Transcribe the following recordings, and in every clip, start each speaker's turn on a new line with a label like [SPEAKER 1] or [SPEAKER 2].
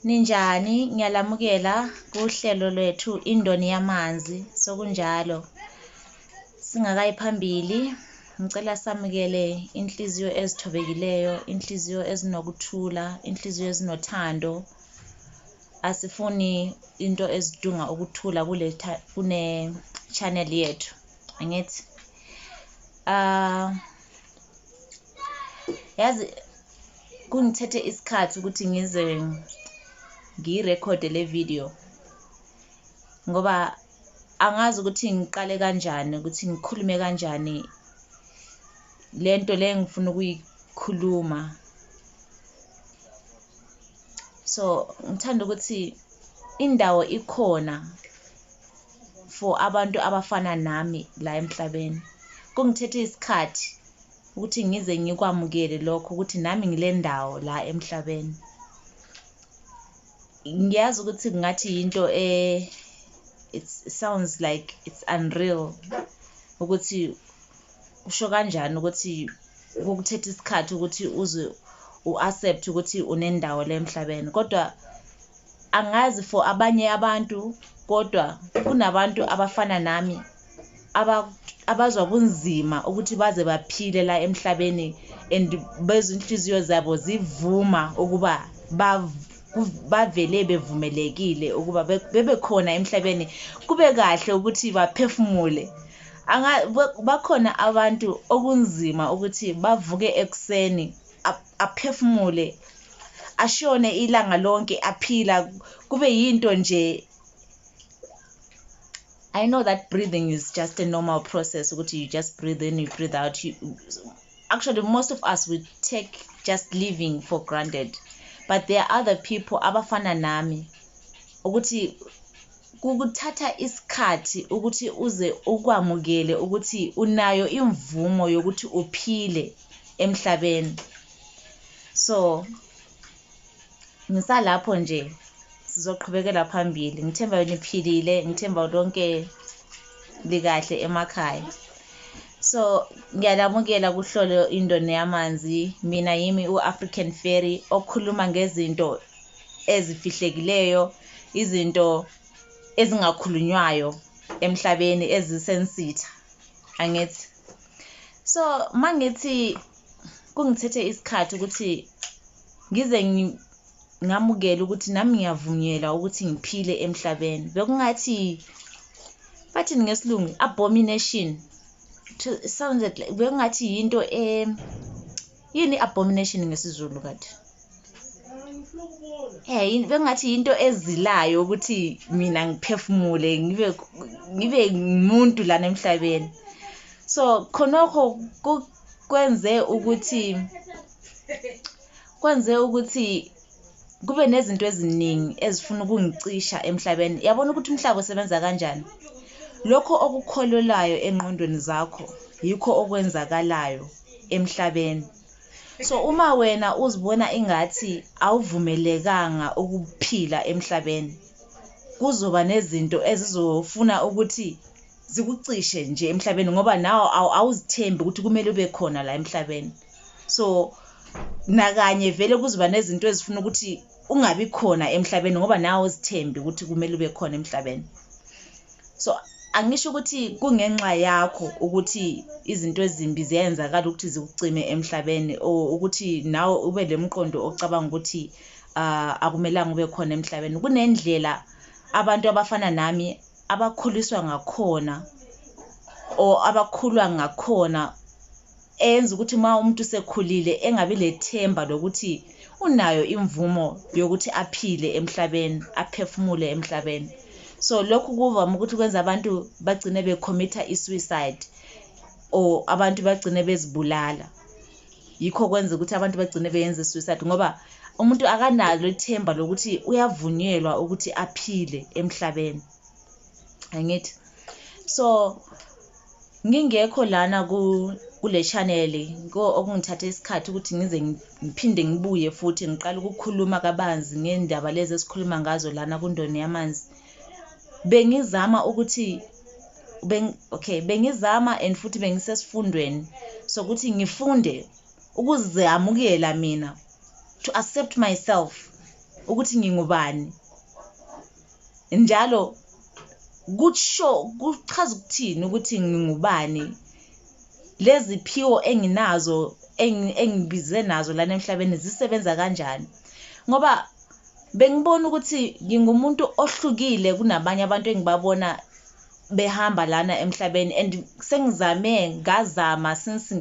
[SPEAKER 1] Ninjani? Ngiyalamukela kuhlelo lwethu Indoni Yamanzi. Sokunjalo. Singakayi phambili, ngicela samukele inhliziyo ezithobekileyo, inhliziyo ezinokuthula, inhliziyo ezinothando. Asifuni into ezidunga ukuthula kule kune channel yethu. Angithi? Ah yazi Kungithethe isikhathi ukuthi ngize ngiyirekhode le video ngoba angazi ukuthi ngiqale kanjani ukuthi ngikhulume kanjani le nto le ngifuna ukuyikhuluma so ngithanda ukuthi indawo ikhona for abantu abafana nami la emhlabeni kungithethe isikhathi Ukuthi ngize ngikwamukele lokho ukuthi nami ngilendawo la emhlabeni. Ngiyazi ukuthi kungathi yinto e it sounds like it's unreal ukuthi usho kanjani ukuthi kukuthetha isikhathi ukuthi uze u-accept ukuthi unendawo le emhlabeni kodwa angazi for abanye abantu kodwa kunabantu abafana nami abazwa kunzima ukuthi baze baphile la emhlabeni and bezinhliziyo zabo zivuma ukuba bavele bevumelekile ukuba bebe khona emhlabeni kube kahle ukuthi baphefumule bakhona abantu okunzima ukuthi bavuke ekuseni aphefumule ashone ilanga lonke aphila kube yinto nje I know that breathing is just a normal process ukuthi you just breathe in you breathe out you, actually most of us we take just living for granted but there are other people abafana nami ukuthi kukuthatha isikhathi ukuthi uze ukwamukele ukuthi unayo imvumo yokuthi uphile emhlabeni so ngisalapho nje sizoqhubekela phambili ngithemba niphilile ngithemba lonke likahle emakhaya so ngiyalamukela kuhlolo indoni yamanzi mina yimi u-african ferry okhuluma ngezinto ezifihlekileyo izinto ezingakhulunywayo emhlabeni ezisensitha angithi so mangithi kungithethe isikhathi ukuthi ngize ngamukele ukuthi nami ngiyavunyelwa ukuthi ngiphile emhlabeni bekungathi bathini ngesilungu abomination sounded like bekungathi yinto e yini abomination ngesizulu kade eh yini bekungathi yinto ezilayo ukuthi mina ngiphefumule ngibe ngibe umuntu lana emhlabeni so khonokho kwenze ukuthi kwenze ukuthi kube nezinto eziningi ezifuna ukungicisha emhlabeni yabona ukuthi umhlaba usebenza kanjani lokho okukholelayo engqondweni zakho yikho okwenzakalayo emhlabeni so uma wena uzibona ingathi awuvumelekanga ukuphila emhlabeni kuzoba nezinto ezizofuna ukuthi zikucishe nje emhlabeni ngoba nawo awuzithembi ukuthi kumele ube khona la emhlabeni so nakanye vele kuzoba nezinto ezifuna ukuthi ungabi khona emhlabeni ngoba nawe uzithembi ukuthi kumele ube khona emhlabeni so angisho ukuthi kungenxa yakho ukuthi izinto ezimbi ziyenzakala ukuthi zikucime emhlabeni or ukuthi nawe ube lemqondo ocabanga ukuthi uh, akumelanga ube khona emhlabeni kunendlela abantu abafana nami abakhuliswa ngakhona or abakhulwa ngakhona eyenza ukuthi uma umuntu usekhulile engabi lethemba lokuthi unayo imvumo yokuthi aphile emhlabeni aphefumule emhlabeni so lokhu kuvama ukuthi kwenza abantu bagcine becommitter i-suicide or abantu bagcine bezibulala yikho kwenza ukuthi abantu bagcine beyenze suicide ngoba umuntu akanalo ithemba lokuthi uyavunyelwa ukuthi aphile emhlabeni angithi so ngingekho lana kule channel okungithathe isikhathi ukuthi ngize ngiphinde ngibuye futhi ngiqale ukukhuluma kabanzi ngendaba lezi esikhuluma ngazo lana kundoni yamanzi bengizama ukuthi beng, okay bengizama and futhi bengisesifundweni sokuthi ngifunde ukuzamukela mina to accept myself ukuthi ngingubani njalo kusho kuchaza ukuthini ukuthi ngingubani leziphiwo enginazo engibize nazo lana emhlabeni zisebenza kanjani ngoba bengibona ukuthi ngingumuntu ohlukile kunabanye abantu engibabona behamba lana emhlabeni and sengizame ngazama since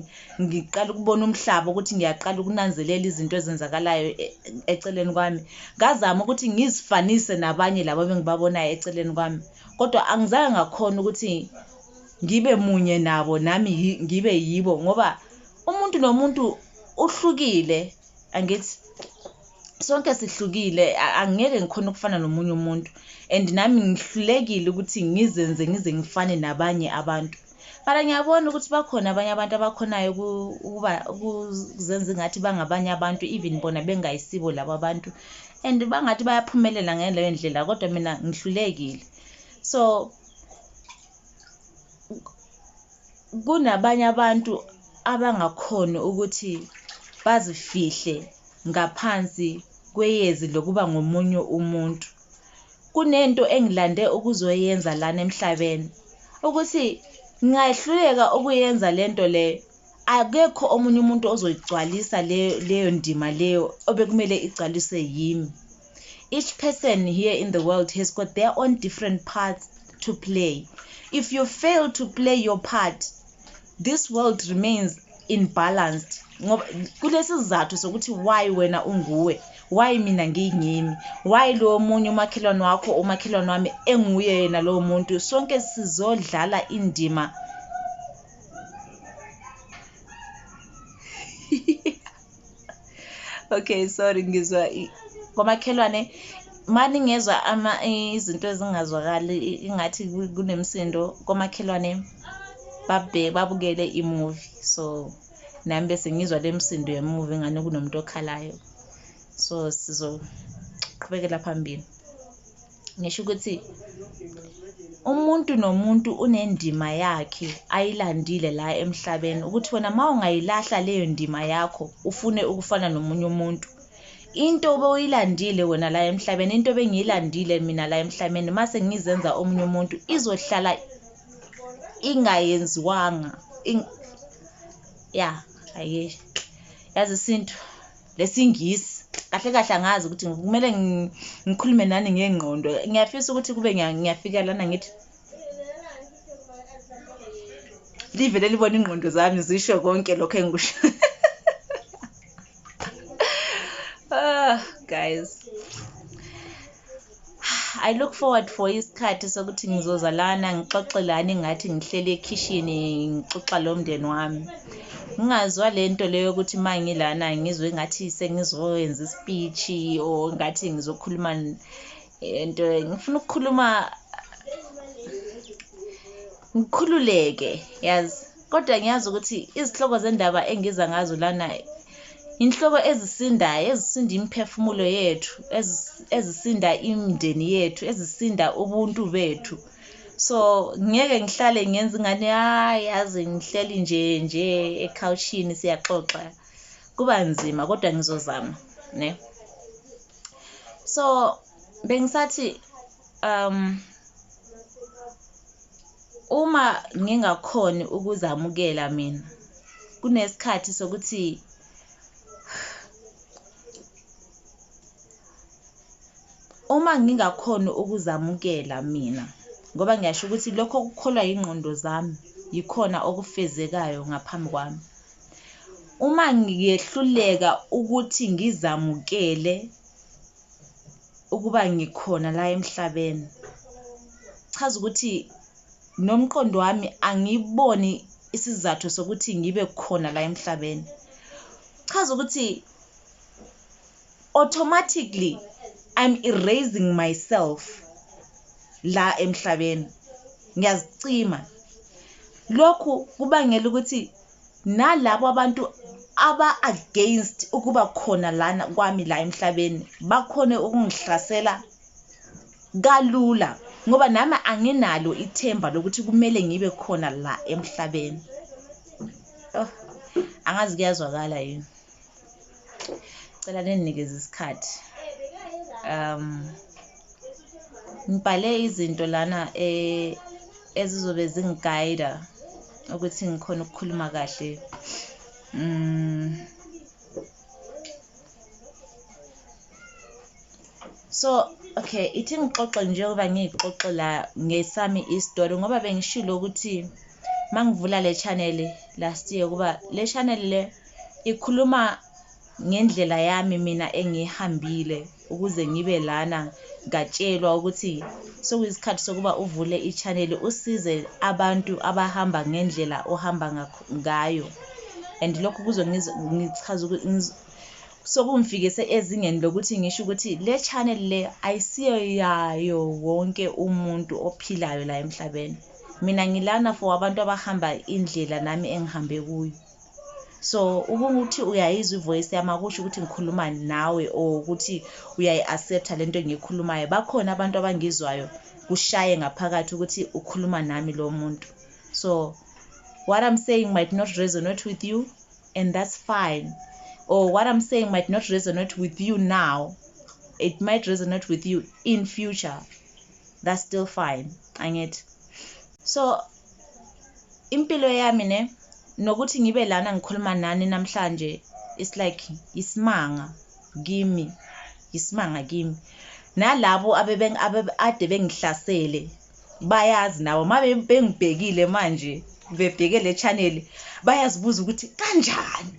[SPEAKER 1] ngiqala ukubona umhlaba ukuthi ngiyaqala ukunanzelela izinto ezenzakalayo e, eceleni kwami ngazama ukuthi ngizifanise nabanye labo bengibabonayo eceleni kwami kodwa angizange ngakhona ukuthi ngibe munye nabo nami ngibe yibo ngoba umuntu nomuntu uhlukile angithi sonke sihlukile angeke ngikhona ukufana nomunye umuntu and nami ngihlulekile ukuthi ngizenze ngize ngifane nabanye abantu mara ngiyabona ukuthi bakhona abanye abantu abakhonayo ukuba ukuzenza ingathi bangabanye abantu even bona bengayisibo labo abantu and bangathi bayaphumelela ngaleyo ndlela kodwa mina ngihlulekile so kunabanye abantu abangakhoni ukuthi bazifihle ngaphansi kweyezi lokuba ngomunye umuntu. Kunento engilande ukuzoyenza lana emhlabeni, ukuthi ngingahluleka ukuyenza lento leyo. akekho omunye umuntu ozoyigcwalisa leyo leyo ndima leyo obekumele igcwaliswe yimi each person here in the world has got their own different parts to play if you fail to play your part this world remains in balanced ngoba kulesi sizathu sokuthi why wena unguwe why mina ngiyingimi why lowo munye umakhelwane wakho umakhelwane wami enguye yena lowo muntu sonke sizodlala indima okay sorry ngizwa kwamakhelwane mani ngezwa ama izinto ezingazwakali ingathi kunemsindo komakhelwane babhe babukele imovie so nami bese ngizwa le msindo yemovie ngane kunomuntu okhalayo so sizoqhubekela phambili ngisho ukuthi umuntu nomuntu unendima yakhe ayilandile la emhlabeni ukuthi wena uma ungayilahla leyo ndima yakho ufune ukufana nomunye umuntu into obewuyilandile wena la emhlabeni into bengiyilandile mina la emhlabeni mase ngizenza omunye umuntu izohlala ingayenziwanga ya aye yazi isintu lesingisi kahle kahle angazi ukuthi kumele ngikhulume nani ngengqondo ngiyafisa ukuthi kube ngiyafika lana ngithi livele libona ingqondo zami zisho konke lokho engikusho ah guys I look forward for isikhathi sokuthi ngizoza lana ngixoxe lani ngathi ngihleli ekhishini ngixoxa lo mndeni wami ngingazwa le nto leyo yokuthi uma ngilana ngizwe ngathi sengizoyenza isipichi or ngathi ngizokhuluma into eh, ngifuna ukukhuluma ngikhululeke yazi Kodwa ngiyazi ukuthi izihloko zendaba engiza ngazo lana inhloko ezisindayo ezisinda imiphefumulo yethu ezisinda imindeni yethu ezisinda ubuntu bethu so ngeke ngihlale ngenza ingane hayi yazi ngihleli nje nje ekhawushini siyaxoxa kuba nzima kodwa ngizozama ne so bengisathi um Uma ngingakhoni ukuzamukela mina, kunesikhathi sokuthi uma ngingakhoni ukuzamukela mina ngoba ngiyasho ukuthi lokho okukholwa yingqondo zami yikhona okufezekayo ngaphambi kwami. Uma ngiyehluleka ukuthi ngizamukele ukuba ngikhona la emhlabeni chaza ukuthi nomqondo wami angiboni isizathu sokuthi ngibe khona la emhlabeni chaza ukuthi automatically i'm erasing myself la emhlabeni ngiyazicima lokhu kubangela ukuthi nalabo abantu aba-against ukuba khona lana kwami la emhlabeni bakhone ukungihlasela kalula ngoba nami anginalo ithemba lokuthi kumele ngibe khona la emhlabeni oh angazi kuyazwakala yini cela ninginikeze isikhathi um ngibhale izinto lana e, ezizobe zingigayida ukuthi ngikhona ukukhuluma kahle um so okay ithi ngixoxe njengoba ngiyixoxe la ngesami isitori ngoba bengishilo ukuthi mangivula le channel last year kuba le channel le ikhuluma ngendlela yami mina engihambile ukuze ngibe lana ngatshelwa ukuthi sokuyisikhathi sokuba uvule i-channel usize abantu abahamba ngendlela ohamba ngayo and lokho kuzongichaza Sokungifikise ezingeni lokuthi ngisho ukuthi le channel le ayisiyo yayo wonke umuntu ophilayo la emhlabeni. Mina ngilana for abantu abahamba indlela nami engihambe kuyo. So ukuthi uyayizwa ivoice yami akusho ukuthi ngikhuluma nawe or ukuthi uyayi-accepta lento engiyikhulumayo. Bakhona abantu abangizwayo kushaye ngaphakathi ukuthi ukhuluma nami lo muntu. So what I'm saying might not resonate with you and that's fine or what i'm saying might not resonate with you now it might resonate with you in future that's still fine angithi so impilo yami ne nokuthi ngibe lana ngikhuluma nani namhlanje it's like isimanga kimi isimanga kimi nalabo ade bengihlasele bayazi nabo uma bengibhekile manje bebheke le channel bayazibuza ukuthi kanjani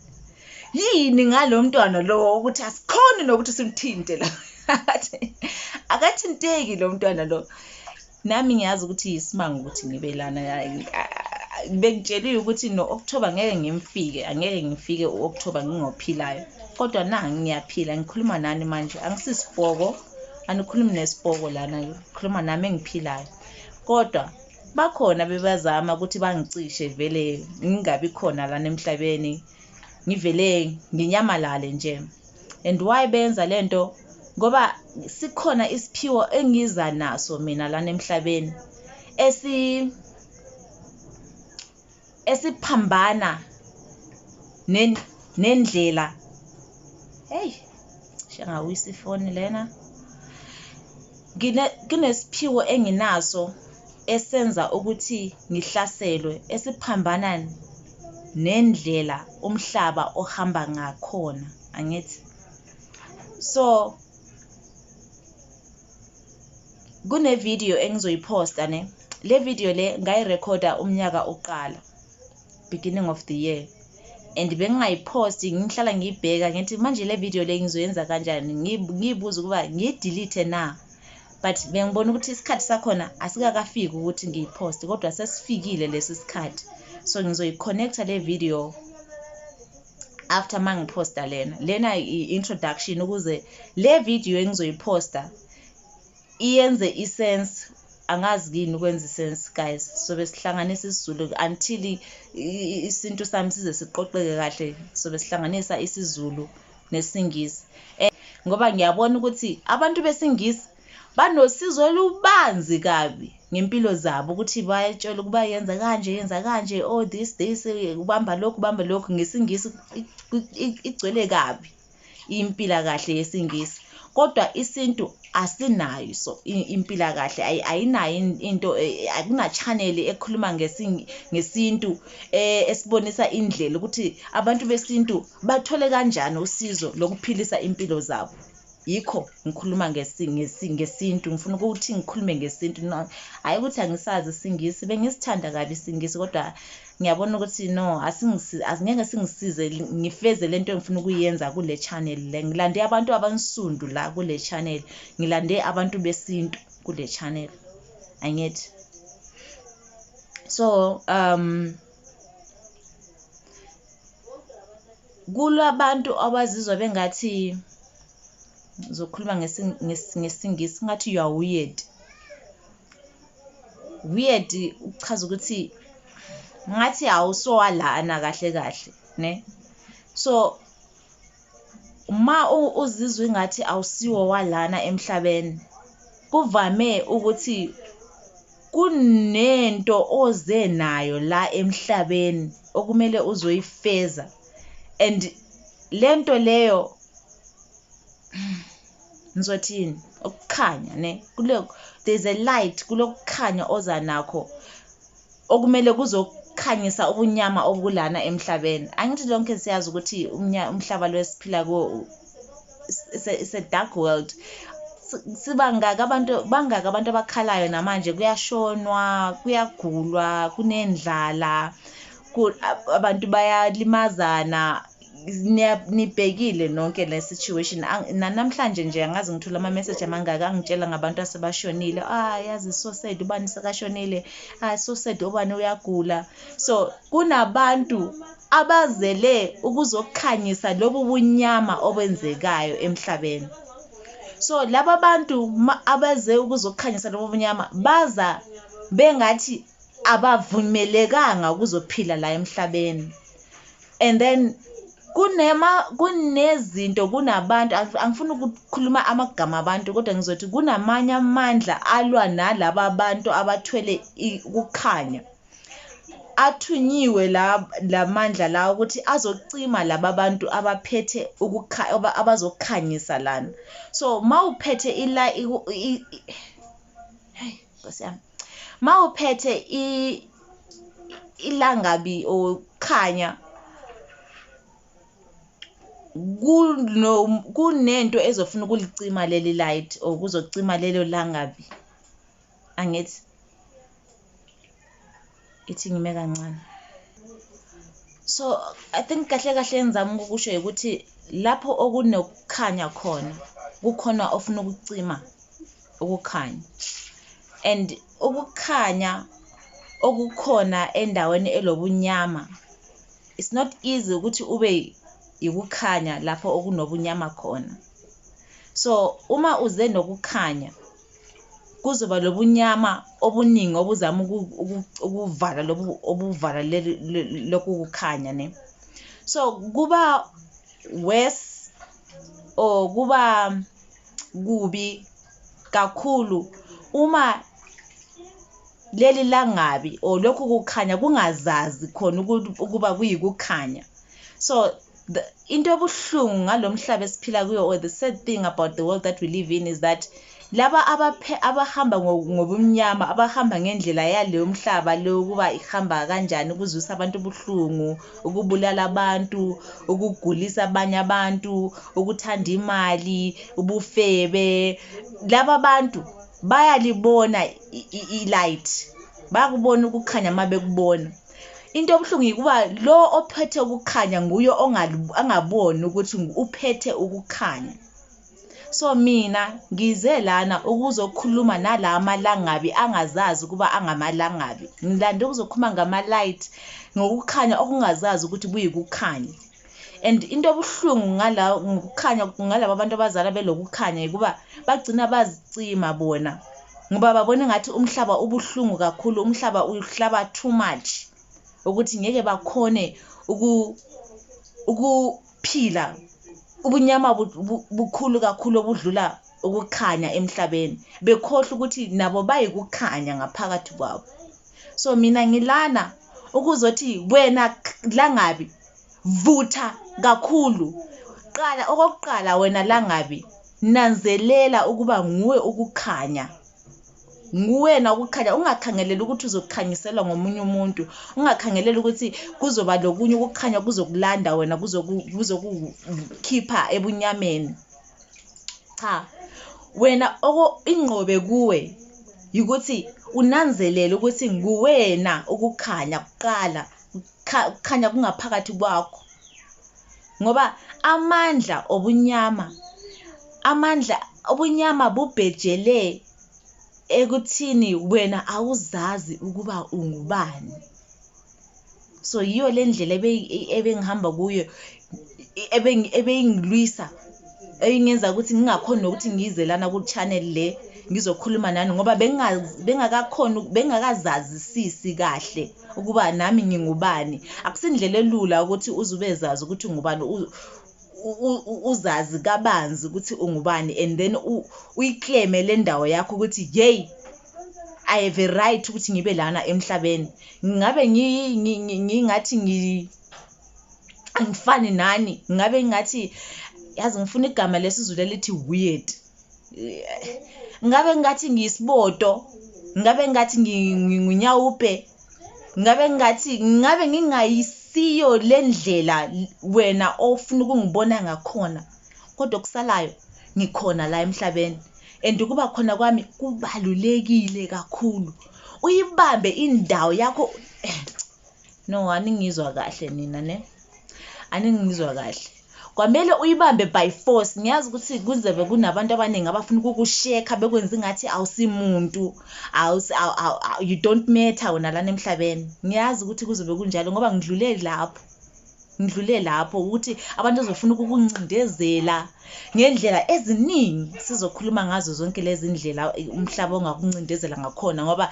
[SPEAKER 1] yini ngalo mntwana lowo ukuthi asikhoni nokuthi simthinte la akathinteki lo mntwana lo nami ngiyazi ukuthi yisimanga ukuthi ngibe lana bengitsheliwe ukuthi no-okthoba ngeke ngimfike angeke ngifike u-okthoba ngingophilayo kodwa na ngiyaphila ngikhuluma nani manje angisisipoko anikhulumi nesipoko lana khuluma nami engiphilayo kodwa bakhona bebazama ukuthi bangicishe vele ngingabi khona lana emhlabeni ngivele nginyamalale nje and why benza le nto ngoba sikhona isiphiwo engiza naso mina lana emhlabeni esi esiphambana nendlela hey shangawisa ifoni lena kunesiphiwo enginaso esenza ukuthi ngihlaselwe esiphambana nendlela umhlaba ohamba ngakhona angithi so kune video engizoyiposta ne le video le ngayirekhoda umnyaka uqala beginning of the year and bengingayiposti ngihlala ngiyibheka ngithi manje le video le ngizoyenza kanjani ngiyibuza ukuba ngiyidelete na but bengibona ukuthi isikhathi sakhona asikakafiki ukuthi ngiyiposte kodwa sesifikile lesi sikhathi so ngizoyiconnecta le video after mangiphosta lena lena i-introduction ukuze le video engizoyiphosta iyenze isense angazi kini ukwenza isense guys sobe sihlanganisa isizulu until isintu sami size siqoqeke kahle sobe sihlanganisa isizulu nesingisi eh, ngoba ngiyabona ukuthi abantu besingisi banosizo olubanzi kabi ngempilo zabo ukuthi bayatshela ukuba yenza kanje yenza kanje oh this this ubamba lokhu ubamba lokhu ngesingisi igcwele kabi impila kahle yesingisi kodwa isintu asinayo so impila kahle ayinayo into e, e, akuna channel ekhuluma ngesintu e, esibonisa indlela ukuthi abantu besintu bathole kanjani usizo lokuphilisa impilo zabo yikho ngikhuluma ngesintu ngifuna ukuthi ngikhulume ngesintu no hhayi ukuthi angisazi isingisi bengisithanda kabi isingisi kodwa ngiyabona ukuthi no asingeke singisize ngifeze le nto engifuna ukuyenza kule channel le ngilande abantu abansundu la kule channel ngilande abantu besintu kule channel angithi so um Kulabantu abazizwa bengathi ngizokhuluma ngesiNgisi ngathi you are weird. Weird kuchaza ukuthi ngathi awusowa lana kahle kahle ne so. Uma uzizwa ingathi awusiwo walana emhlabeni, kuvame ukuthi kunento oze nayo la emhlabeni okumele uzoyifeza and lento leyo ngizothini ukukhanya ne kulo there's a light kulokukhanya oza nakho okumele kuzokhanyisa ubunyama obulana emhlabeni angithi lonke siyazi ukuthi umhlaba lo esiphila kuwo it's a dark world sibangaka abantu bangaka abantu abakhalayo namanje kuyashonwa kuyagulwa kunendlala abantu bayalimazana nibhekile nonke le situation nanamhlanje nje angazi ngithola ama-message amangaka angitshela ngabantu asebashonile ah yazi so sad ubani sekashonile ah so sad ubani uyagula so kunabantu abazele ukuzokhanyisa lobu bunyama obenzekayo emhlabeni so laba bantu abeze ukuzokhanyisa lobu bunyama baza bengathi abavumelekanga ukuzophila la emhlabeni and then kunema kunezinto kunabantu angifuni ukukhuluma amagama abantu kodwa ngizothi kunamanye amandla alwa nalaba abantu abathwele ukukhanya athunyiwe la lamandla la ukuthi azocima laba bantu abaphethe ukukha abazokhanyisa lana so mawuphethe ila nkosi yami ma uphethe ilangabi okhanya kunento ezofuna ukulicima leli light or kuzocima lelo langabi angithi ithi ngime kancane so i think kahle kahle engizama ukukusho ukuthi lapho okunokukhanya khona kukhona ofuna ukucima ukukhanya and ukukhanya okukhona endaweni elobunyama it's not easy ukuthi ube yikukhanya lapho okunobunyama khona so uma uze nokukhanya kuzoba lobunyama obuningi obuzama ukuvala lobu obuvala lokhu kukhanya ne so kuba worse or kuba kubi kakhulu uma leli langabi or lokhu kukhanya kungazazi khona ukuba kuyikukhanya so the, into ebuhlungu ngalomhlaba esiphila kuyo or the sad thing about the world that we live in is that laba abaphe abahamba ngobumnyama abahamba ngendlela yaleyo mhlaba leyo ukuba ihamba kanjani ukuzwisa abantu ubuhlungu ukubulala abantu ukugulisa abanye abantu ukuthanda imali ubufebe laba bantu bayalibona i-light bakubona ukukhanya uma bekubona into obuhlungu yikuba lo ophethe ukukhanya nguye angaboni ukuthi uphethe ukukhanya so mina ngize lana ukuzokhuluma nala amalangabi angazazi ukuba angamalangabi ngilande ukuzokhuluma ngama-light ngokukhanya okungazazi ukuthi kuyikukhanya and into ebuhlungu ngala ngokukhanya ngalabo abantu abazala belokukhanya ukuba bagcina bazicima bona ngoba babona ngathi umhlaba ubuhlungu kakhulu umhlaba uhlaba too much ukuthi ngeke bakhone uku ukuphila ubunyama bukhulu kakhulu obudlula ukukhanya emhlabeni bekhohle ukuthi nabo bayikukhanya ngaphakathi kwabo so mina ngilana ukuzothi wena langabi vutha kakhulu qala okokuqala wena langabi nanzelela ukuba nguwe ukukhanya nguwena ukukhanya ungakhangeleli ukuthi uzokhanyiselwa ngomunye umuntu ungakhangeleli ukuthi kuzoba lokunye ukukhanya kuzokulanda wena kuzokukhipha ebunyameni cha wena ingqobe kuwe ukuthi unanzelele ukuthi nguwena ukukhanya kuqala kukhanya kungaphakathi kwakho ngoba amandla obunyama amandla obunyama bubhejele ekuthini wena awuzazi ukuba ungubani so yiyo le ndlela ebengihamba kuyo ebeyingilwisa eyingenza ukuthi ngingakhoni nokuthi ngize lana ku-channel le ngizokhuluma nani ngoba bengakakhoni bengakazazisisi kahle ukuba nami ngingubani akusindlela elula ukuthi uze ubezazi ukuthi ungubani uzazi kabanzi ukuthi ungubani and then uyikleme le ndawo yakho ukuthi yeyi i have a right ukuthi ngibe lana emhlabeni ngabe ngingathi ngi angifani nani ngabe ngingathi yazi ngifuna igama lesizulu elithi weird ngabe ngingathi ngiyisibodo ngabe ngingathi nginyawupe ngabe ngingathi ngabe ngingayisiyo le ndlela wena ofuna ukungibona ngakhona Kodwa okusalayo ngikhona la emhlabeni and ukuba khona kwami kubalulekile kakhulu. Uyibambe indawo yakho eh, no aningizwa kahle nina ne aningizwa kahle kwamele uyibambe by force ngiyazi ukuthi kuzobe kunabantu abaningi abafuna ukukushekha bekwenza ingathi awusimuntu you don't matter wena lana emhlabeni ngiyazi ukuthi kuzobe kunjalo ngoba ngidlule lapho ngidlule lapho ukuthi abantu bazofuna ukukuncindezela ngendlela eziningi sizokhuluma ngazo zonke lezi ndlela umhlaba ongakuncindezela ngakhona ngoba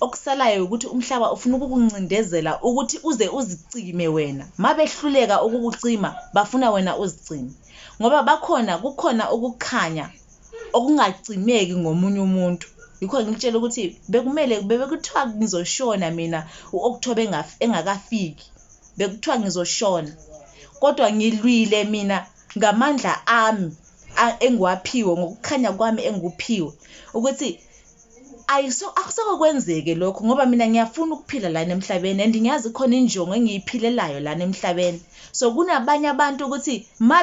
[SPEAKER 1] okusalayo ukuthi umhlaba ufuna ukukuncindezela ukuthi uze uzicime wena mabehluleka ukukucima bafuna wena uzicime ngoba bakhona kukhona ukukhanya okungacimeki ngomunye umuntu yikho ngikutshela ukuthi bekumele bebekuthiwa ngizoshona mina u-October engakafiki bekuthiwa ngizoshona kodwa ngilwile mina ngamandla ami engiwaphiwe ngokukhanya kwami engikuphiwe ukuthi ayiso akuseke kwenzeke lokho ngoba mina ngiyafuna ukuphila lana emhlabeni and ngiyazi khona injongo engiyiphilelayo lana emhlabeni so kunabanye abantu ukuthi ma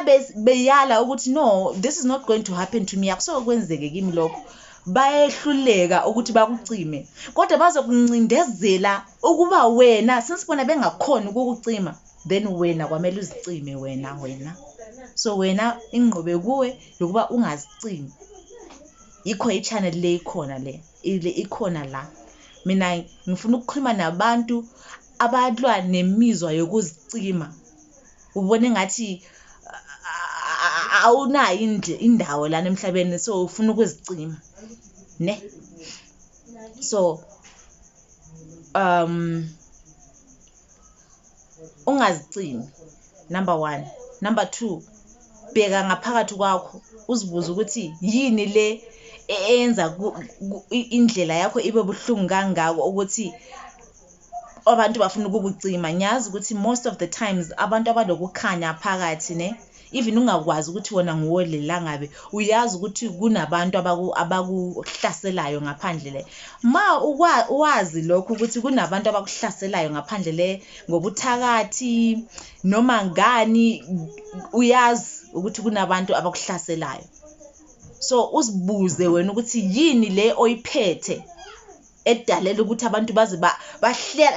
[SPEAKER 1] beyala ukuthi no this is not going to happen to me akuseke kwenzeke kimi lokho bayehluleka ukuthi bakucime kodwa bazokuncindezela ukuba wena since bona bengakhona ukukucima then wena kwamele uzicime wena wena so wena ingqobe kuwe yokuba ungazicimi yikho i-channel le ikhona le ile ikhona la mina ngifuna ukukhuluma nabantu abalwa nemizwa yokuzicima ubone ngathi awunayo indawo lana emhlabeni so ufuna ukuzicima ne so um ungazicimi number one number two bheka ngaphakathi kwakho uzibuze ukuthi yini le e-, eyenza indlela yakho ibe buhlungu kangako ukuthi abantu bafuna ukukucima ngiyazi ukuthi most of the times abantu abanokukhanya phakathi ne even ungakwazi ukuthi wona nguwe lelangabe uyazi ukuthi kunabantu abakuhlaselayo ngaphandle le ma wazi lokho ukuthi kunabantu abakuhlaselayo ngaphandle le ngobuthakathi noma ngani uyazi ukuthi kunabantu abakuhlaselayo so uzibuze wena ukuthi yini le oyiphethe edalela ukuthi abantu baze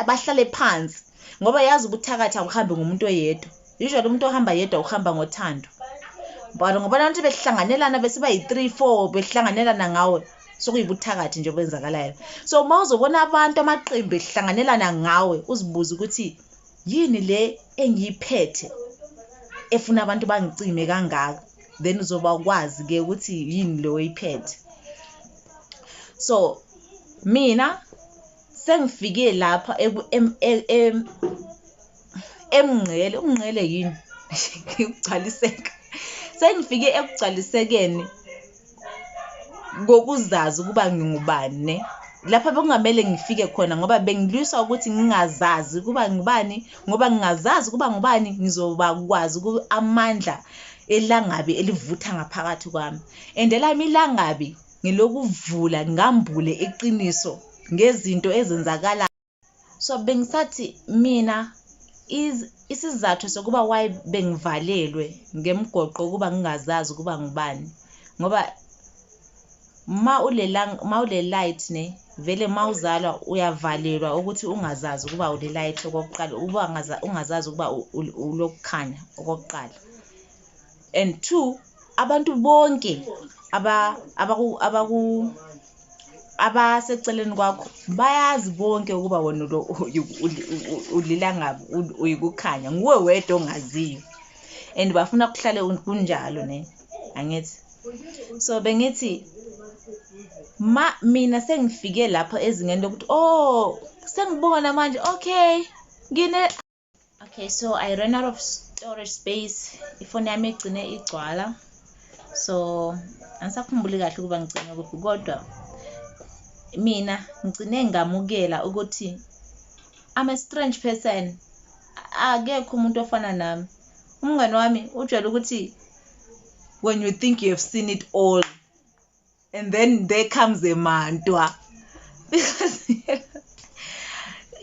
[SPEAKER 1] bahlale phansi ngoba yazi ubuthakathi awuhambi ngomuntu oyedwa usually umuntu ohamba yedwa uhamba ngothando but ngoba abantu behlanganelana besiba yi-three four behlanganelana ngawe sokuyibuthakathi nje okwenzakalayo so uma uzobona abantu amaqembu ehlanganelana ngawe uzibuze ukuthi yini le engiyiphethe efuna abantu bangicime kangaka then uzoba ukwazi ke ukuthi yini le oyiphethe so mina sengifike lapha emngqele umngqele yini ngigcwaliseka sengifike ekugcwalisekeni kokuzazi ukuba ngingubani lapha bekungamele ngifike khona ngoba bengilwiswa ukuthi ngingazazi ukuba ngubani ngoba ngingazazi ukuba ngubani ngizoba kwazi amandla elangabi elivutha ngaphakathi kwami and elami ilangabi ngilokuvula ngambule iqiniso ngezinto ezenzakala so bengisathi mina isizathu sokuba why bengivalelwe ngemgoqo ukuba ngingazazi ukuba ngubani ngoba ma ulela ma ule light ne vele ma uzalwa uyavalelwa ukuthi ungazazi ukuba ule light okokuqala ukuba ungazazi ukuba ulokukhanya okokuqala and two abantu bonke abaseceleni kwakho bayazi bonke ukuba wena ulilangabi uyikukhanya nguwe wedwa ongaziyo and bafuna kuhlale kunjalo ne angithi so bengithi ma mina sengifike lapho ezingeni lokuthi oh sengibona manje okay ngine okay so i ran out of storage space ifoni yami igcine igcwala so angisakhumbuli kahle ukuba ngigcine kuphi kodwa mina ngigcine ngamukela ukuthi i'm a strange person akekho umuntu ofana nami umngane wami ujwayele ukuthi when you think you have seen it all and then there comes a mantua because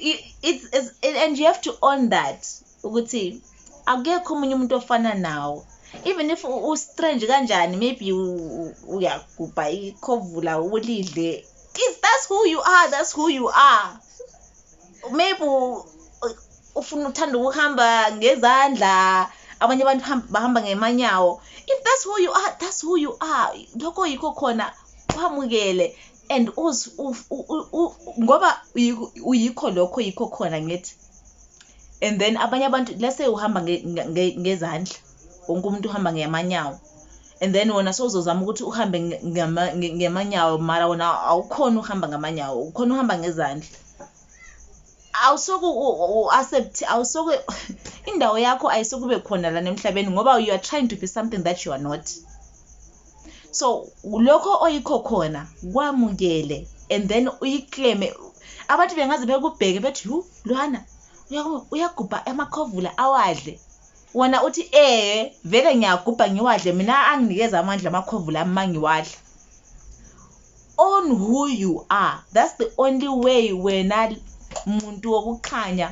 [SPEAKER 1] it's, it's it, and you have to own that ukuthi akekho omunye umuntu ofana nawo even if ustrange kanjani maybe uyagubha ikhovula ulidle is that's who you are that's who you are maybe ufuna uthanda ukuhamba ngezandla abanye abantu bahamba ngemanyawo if that's who you are that's who you are lokho yikho khona kwamukele and ngoba uyikho lokho yikho khona ngithi and then abanye abantu let's say uhamba ngezandla wonke umuntu uhamba ngeyamanyawo and then wona sowuzozama ukuthi uhambe ngemanyawo mara wona awukhona uhamba ngamanyawo ukhona uhamba ngezandla awusoke u-accept awusoke indawo yakho ayisokube khona lana emhlabeni ngoba you are trying to be something that you are not so lokho oyikho khona kwamukele and then uyikleme abantu bengaze bekubheke bethi yu lwana uyagubha amakhovula awadle Wena uthi ee vele ngiyagubha ngiwadle mina anginikeza amandla amakhwevu lami mangiwadla. Own who you are. That's the only way wena muntu wokukhanya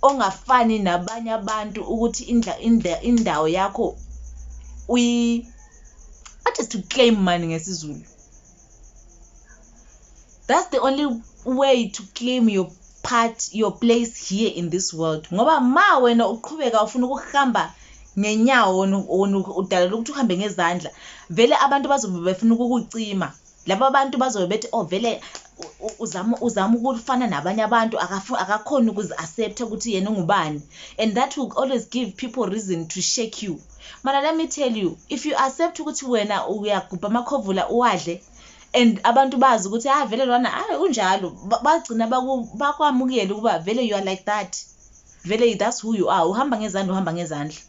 [SPEAKER 1] ongafani nabanye abantu ukuthi indla indla indawo yakho uyi what is to claim mani ngesizulu that's the only way to claim your part your place here in this world ngoba ma wena uqhubeka ufuna ukuhamba ngenyawo udalela ukuthi uhambe ngezandla vele abantu bazobe befuna ukukucima laba bantu bazobe bethi oh vele uzama uzama ukufana nabanye abantu akakhoni ukuzi-accepta ukuthi yena ungubani and that will always give people reason to shake you Mara let me tell you if you accept ukuthi wena uyagubha amakhovula uwadle and abantu bazi ukuthi ah vele lwana hayi ah, unjalo bagcina bakwamukele ukuba vele you are like that vele that's who you are uhamba ngezandla uhamba ngezandla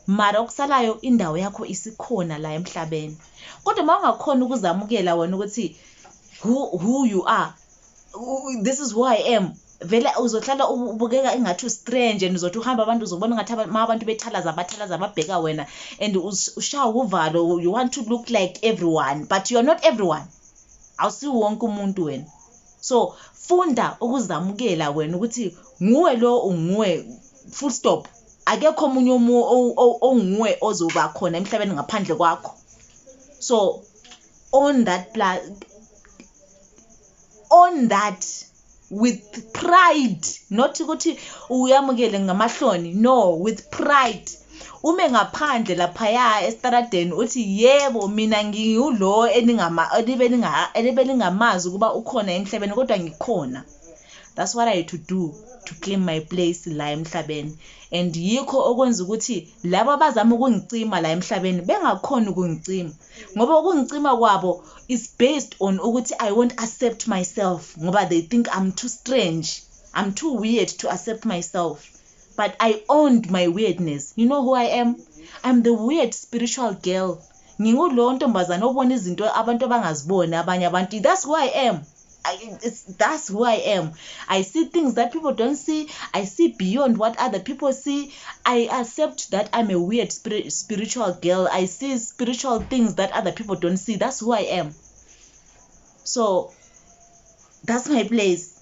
[SPEAKER 1] mara okusalayo indawo yakho isikhona la emhlabeni kodwa uma ungakhona ukuzamukela wena ukuthi who, who you are this is who i am vele uzohlala ubukeka engathi ustrange and uzothi uhamba abantu uzobona ngathi ma abantu bethalaza abathalaza ababheka wena and ushawa uvalo you want to look like everyone but you're not everyone awusiwo wonke umuntu wena so funda ukuzamukela wena ukuthi nguwe lo unguwe full stop akekho omunye omunye onguwe ozoba khona emhlabeni ngaphandle kwakho so on that on that with pride not ukuthi uyamukele ngamahloni no with pride ume ngaphandle laphaya esitaradeni uthi yebo mina ngiwulo enibelingamazi ukuba ukhona emhlabeni kodwa ngikhona that's what i had to do to claim my place la emhlabeni and yikho okwenza ukuthi laba abazama ukungicima la emhlabeni bengakhoni ukungicima ngoba ukungicima kwabo is based on ukuthi i won't accept myself ngoba they think i'm too strange i'm too weird to accept myself but i owned my weirdness you know who i am i'm the weird spiritual girl ngingulowo ntombazane obona izinto abantu abangaziboni abanye abantu that's who i am it's, that's who I am. I see things that people don't see. I see beyond what other people see. I accept that I'm a weird spirit, spiritual girl. I see spiritual things that other people don't see. That's who I am. So that's my place.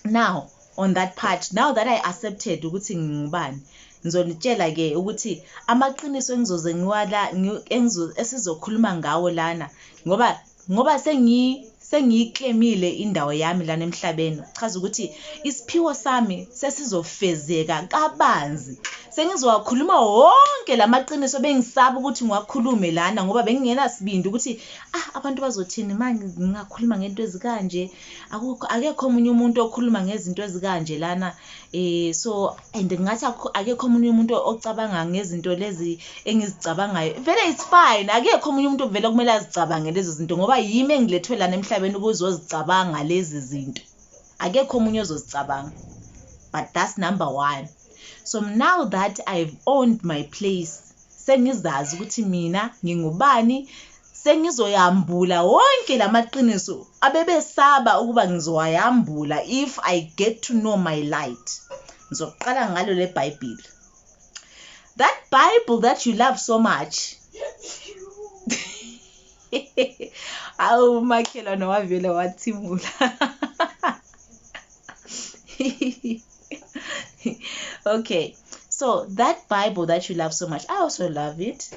[SPEAKER 1] Now, on that part, now that I accepted ukuthi ngingubani, ngizonitshela ke ukuthi amaqiniso engizoze ngiwala esizokhuluma ngawo lana ngoba Ngoba sengi sengiyiklemile indawo yami lana emhlabeni kuchaza ukuthi isiphiwo sami sesizofezeka kabanzi sengizowakhuluma wonke lamaqiniso bengisaba ukuthi ngiwakhulume lana ngoba bengingenasibindi ukuthi ah abantu bazothini manje ngingakhuluma ngento ezikanje Akukho akekho omunye umuntu okhuluma ngezinto ezikanje lana eh so and ngathi akekho omunye umuntu ocabanga ngezinto lezi engizicabangayo vele it's fine akekho omunye umuntu vele kumele azicabange lezo zinto ngoba yimi engilethwe lana emhlabeni ukuzozicabanga lezi zinto akekho omunye ozozicabanga but that's number 1 so now that i've owned my place Sengizazi ukuthi mina ngingubani, sengizoyambula wonke lamaqiniso abebesaba ukuba ngizowayambula if I get to know my light. Ngizoqala ngalo leBhayibheli. That Bible that you love so much. Awu makhelwane wavele wathimula. okay so that bible that you love so much i also love it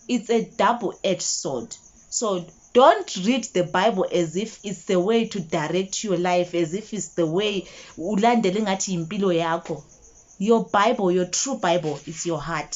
[SPEAKER 1] it's a double-edged sword so don't read the bible as if it's the way to direct your life as if it's the way ulandele ngathi impilo yakho your bible your true bible is your heart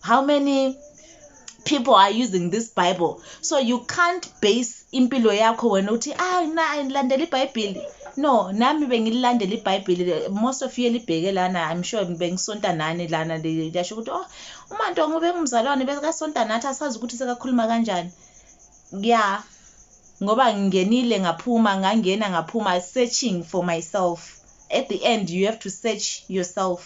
[SPEAKER 1] how many people are using this bible so you can't base impilo yakho wena uthi ah na ngilandela ibhayibheli no nami bengilandela ibhayibheli most of you elibheke lana i'm sure bengisonta nani lana liyasho ukuthi oh umanto ngobe ngumzalwane bekasonta nathi asazi ukuthi sekakhuluma kanjani ya ngoba ngingenile ngaphuma ngangena ngaphuma searching for myself at the end you have to search yourself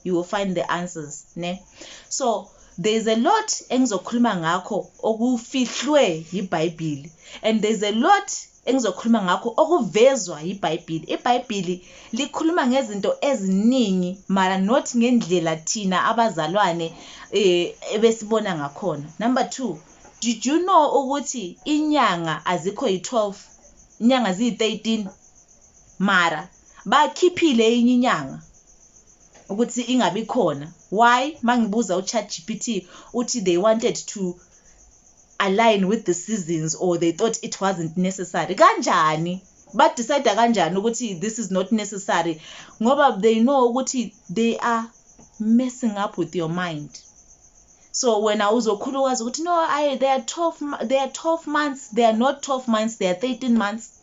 [SPEAKER 1] you will find the answers ne so there is a lot engizokhuluma ngakho okufihlwe yibhayibhili and there is a lot engizokhuluma ngakho okuvezwa yibhayibhili ibhayibhili likhuluma ngezinto eziningi mara not ngendlela thina abazalwane eh, ebesibona ngakhona number 2 did you know ukuthi inyanga azikho yi-12 inyanga ziyi-13 Mara bakhiphile enye inyanga ukuthi ingabi khona why mangibuza u chat gpt uthi they wanted to align with the seasons or they thought it wasn't necessary kanjani ba decide kanjani ukuthi this is not necessary ngoba they know ukuthi they are messing up with your mind so wena uzokhulukazi ukuthi no I, they are 12 they are 12 months they are not 12 months they are 13 months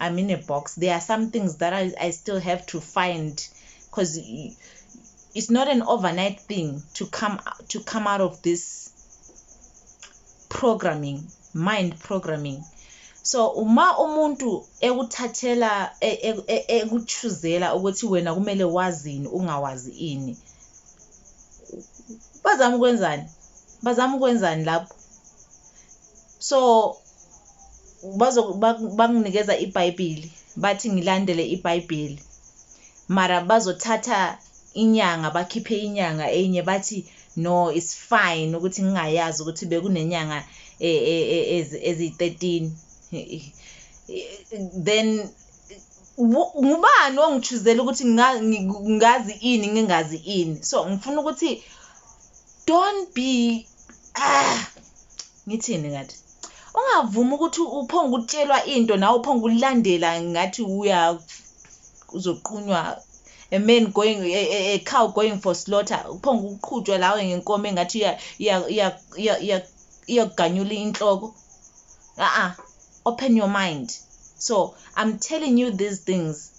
[SPEAKER 1] I'm in a box. There are some things that I, I still have to find because it's not an overnight thing to come to come out of this programming, mind programming. So uma umuntu ekuthathela ekuchuzela e, e, ukuthi wena kumele wazini ungawazi ini. Bazama ukwenzani? Bazama ukwenzani lapho? so bakunikeza ibhayibhili bathi ngilandele ibhayibhili mara bazothatha inyanga bakhiphe inyanga enye bathi no it's fine ukuthi ngingayazi ukuthi bekunenyanga e, e, e, eziyi-13 then ngubani ongijuzela ukuthi ngazi ini ngingazi ini so ngifuna ukuthi don't be ah ngithini ngathi ungavumi ukuthi uphonga ukutshelwa into nawe uphonga ukulandela ngathi uya uzoqunywa a man going a, a, a cow going for slaughter uphonga ukuqhutshwa lawe ngenkomo engathi iyaganyula inhloko a-a open your mind so i'm telling you these things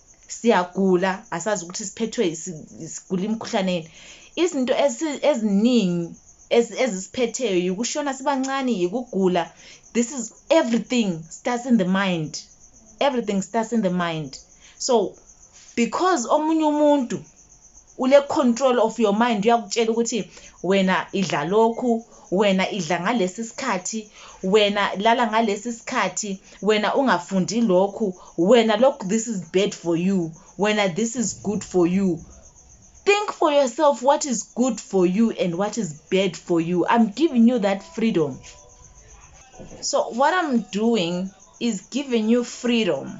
[SPEAKER 1] siyagula asazi ukuthi siphethwe sigula imikhuhlane yini izinto eziningi ezisiphetheyo yikushona sibancane yikugula this is everything starts in the mind everything starts in the mind so because omunye umuntu Ule control of your mind uyakutshela ukuthi wena idla lokhu, wena idla ngalesi sikhathi, wena lala ngalesi sikhathi, wena ungafundi lokhu, wena lokhu this is bad for you, wena this is good for you. Think for yourself what is good for you and what is bad for you. I'm giving you that freedom. So what I'm doing is giving you freedom.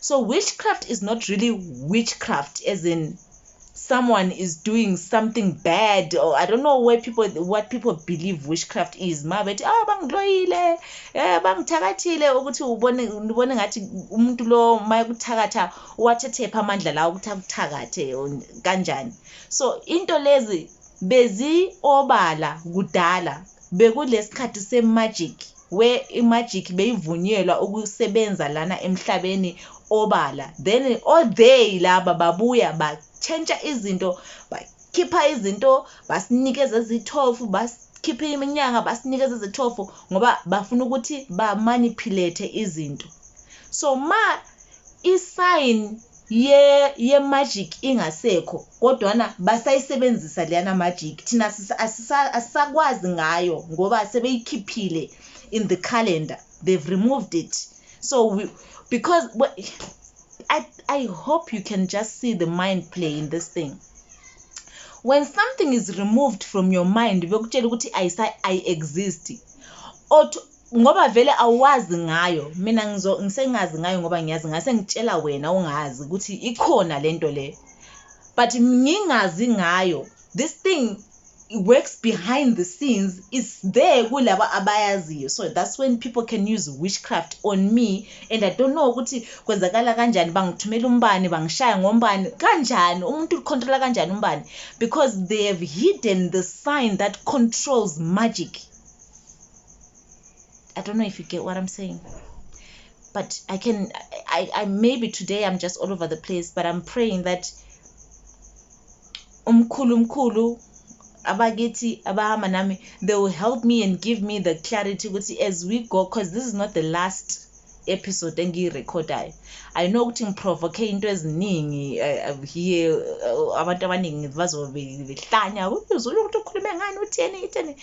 [SPEAKER 1] so witchcraft is not really witchcraft as in someone is doing something bad or i don't know where people what people believe witchcraft is ma bethi ah bangiloyile eh bangithakathile ukuthi ubone ubone ngathi umuntu lo mayekuthakatha wathethepha amandla lawo ukuthi akuthakathe kanjani so into lezi bezi obala kudala bekulesikhathi se magic We imagic beyivunyelwa ukusebenza lana emhlabeni obala then all day laba babuya ba change izinto ba khipha izinto basinikeza ezithofu basikhipha iminyanga basinikeza ezithofu ngoba bafuna ukuthi ba manipulate izinto so ma isign ye ye magic ingasekho kodwana basayisebenzisa leyana magic thina asisakwazi ngayo ngoba sebeyikhiphile in the calendar they've removed it so we, because I, I hope you can just see the mind play in this thing when something is removed from your mind bekutshela ukuthi ayi-exist ngoba vele awazi ngayo mina ngizo ngisengazi ngayo ngoba ngiyazi ngase ngitshela wena ungazi ukuthi ikhona lento le but ngingazi ngayo this thing works behind the scenes is there kulabo abayaziyo so that's when people can use witchcraft on me and i don't know ukuthi kwenzakala kanjani bangithumela umbani bangishaya ngombani kanjani umuntu ucontrola kanjani umbani because they have hidden the sign that controls magic I don't know if you get what I'm saying. But I can, I, I maybe today I'm just all over the place, but I'm praying that umkhulu umkhulu abakithi abahamba nami they will help me and give me the clarity ukuthi as we go because this is not the last episode engiyirekhodayo i know ukuthi ngiprovoke into eziningi eh, here eh, abantu abaningi bazobe behlanya uzule ukuthi ukhulume ngani utheni itheni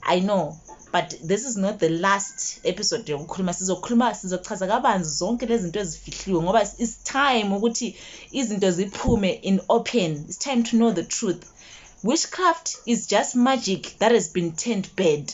[SPEAKER 1] i know but this is not the last episode yokukhuluma sizokhuluma sizochaza kabanzi zonke lezi zinto ezifihliwe ngoba it's time ukuthi izinto ziphume in open it's time to know the truth witchcraft is just magic that has been turned bad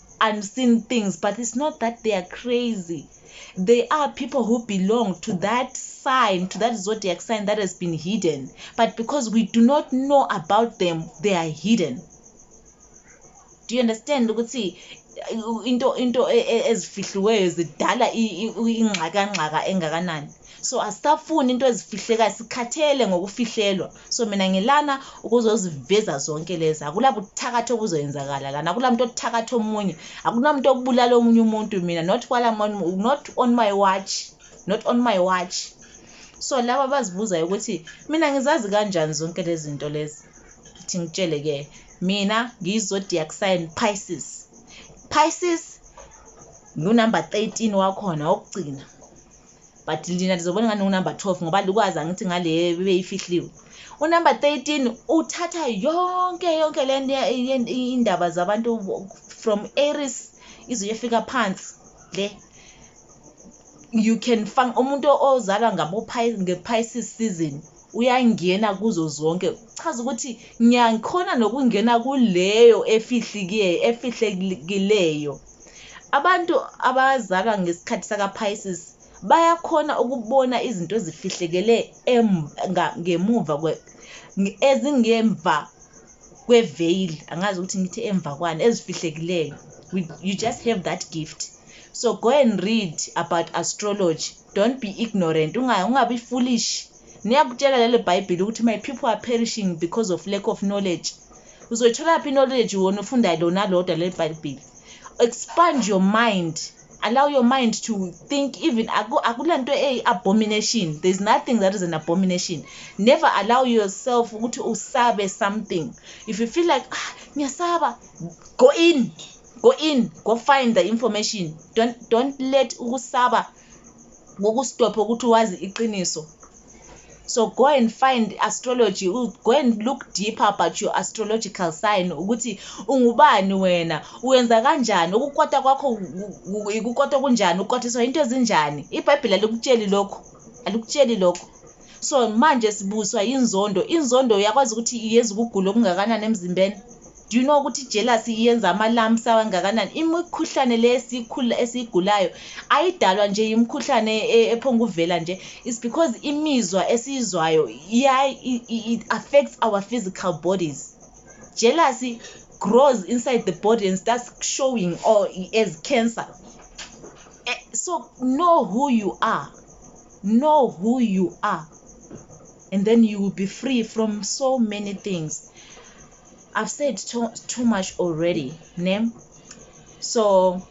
[SPEAKER 1] unseen things but it's not that they are crazy they are people who belong to that sign to that zodiac sign that has been hidden but because we do not know about them they are hidden do you understand ukuthi uh, into into e, e, ezifihliweyo zidala ingxakangxaka engakanani so asisafuni into ezifihlekayo sikhathele ngokufihlelwa so mina ngilana ukuzoziveza zonke lezi akulabuthakathi obuzoyenzakala lana akulamuntu othakathi omunye akunamuntu okubulala omunye umuntu mina not while I'm on, not on my watch not on my watch so laba bazibuzayo ukuthi mina ngizazi kanjani zonke lezi zinto lezi ukuthi ngitshele ke mina ngiyizodiac sign Pisces Pisces ngunumber 13 wakhona wokugcina but ndina ndizobona ngani unumber 12 ngoba lukwazi angithi ngale beyifihliwe unumber 13 uthatha yonke yonke le nto indaba zabantu from aris izoyefika phansi le you can fang umuntu ozalwa ngabo-pisces season uyangena kuzo zonke kuchaza ukuthi ngiyakhona nokungena kuleyo efihlikiye efihlekileyo abantu abazalwa ngesikhathi sakaPices bayakhona ukubona izinto ezifihlekele ngemuva ezingemva kweveil angazi ukuthi ngithi emva kwani ezifihlekileyo you just have that gift so go and read about astrology don't be ignorant ungabi foolish niyakutshela lelo bhayibhile ukuthi my people are perishing because of lack of knowledge uzoyitholaphi knowledge wona ufunda lona lodwa leli bhayibhile expand your mind allow your mind to think even akula nto eyi-abomination there's nothing that is an abomination never allow yourself ukuthi usabe something if you feel like ah ngiyasaba go in go in go find the information don't, don't let ukusaba kokustophe ukuthi wazi iqiniso so go and find astrology go and look deeper about your astrological sign ukuthi ungubani wena uwenza kanjani ukukwata kwakho ukukwata kunjani ukwatiswa into ezinjani ibhayibheli alikutsheli lokho alikutsheli lokho so manje sibuswa inzondo inzondo uyakwazi ukuthi iyenza ukugula okungakanani emzimbeni Do you know ukuthi jealousy iyenza ama lumps awangakanani? Imikhuhlane le esikhula esigulayo ayidalwa nje imikhuhlane e, ephonga uvela nje. It's because imizwa esizwayo iya it affects our physical bodies. Jealousy grows inside the body and starts showing or as cancer. Eh, so know who you are. Know who you are. And then you will be free from so many things. I've said too, too much already, name. So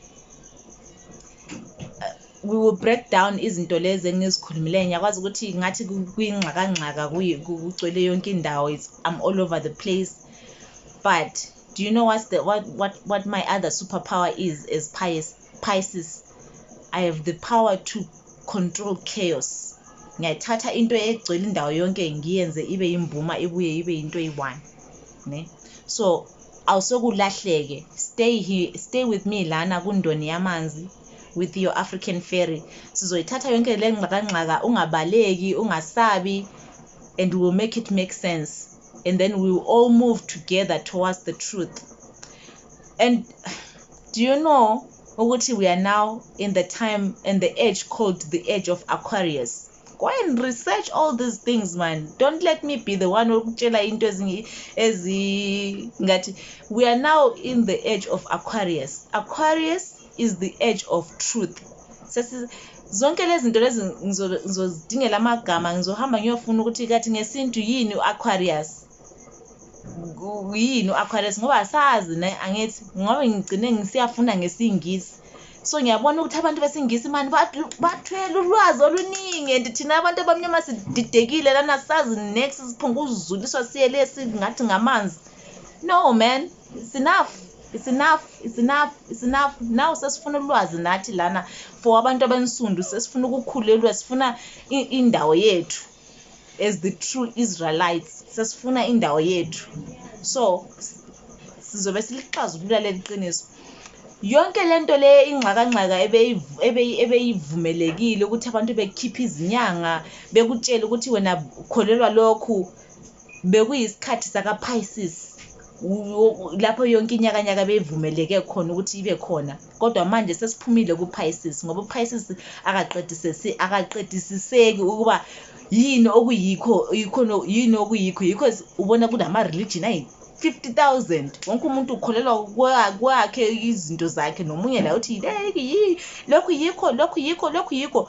[SPEAKER 1] uh, we will break down izinto lezi engizikhulumile ngiyakwazi ukuthi ngathi kwingxakangxaka kugcwele yonke indawo i'm all over the place but do you know what's the what what what my other superpower is as pious Pisces, I have the power to control chaos. Ngiyayithatha into egcwele indawo yonke ngiyenze ibe yimbuma ibuye ibe yinto eyi-one. Ne? So awusokulahleke stay here, stay with me lana kundoni yamanzi with your African fairy. Sizoyithatha yonke le ngxakangxaka ungabaleki, ungasabi and we will make it make sense and then we will all move together towards the truth. and do you know ukuthi we are now in the time and the age called the age of aquarius go and research all these things man don't let me be the one okutshela into ezingathi we are now in the age of aquarius aquarius is the age of truth zonke lezi zinto lezi ngizodingela amagama ngizohamba ngiyofuna ukuthi kathi ngesintu yini u-aquarius yini u-aquarius ngoba asazi ne angithi ngoba ngigcine ngisiyafunda ngesingisi so ngiyabona ukuthi abantu besingisi mani bathwele ulwazi oluningi and thina abantu abamnyama sididekile lana sazi next siphunga uzuliswa siye le singathi ngamanzi no man it's enough it's enough it's enough it's enough now sesifuna ulwazi nathi lana for abantu abansundu sesifuna ukukhulelwa sifuna indawo yethu as the true israelites sesifuna indawo yethu so sizobe silixazulula leli qiniso yonke le nto le ingxakangxaka ebeyivumelekile ukuthi abantu bekhiphe izinyanga bekutshele ukuthi wena kholelwa lokhu bekuyisikhathi sakaPisces lapho yonke inyakanyaka beyivumeleke khona ukuthi ibe khona kodwa manje sesiphumile kuPisces ngoba uPisces akaqedisisi akaqedisiseki ukuba yini okuyikho yikho yini okuyikho yikho ubona kunama religion ayi 50,000 wonke umuntu ukholelwa kwakhe izinto zakhe nomunye la uthi yileki yi lokhu yikho lokhu yikho lokhu yikho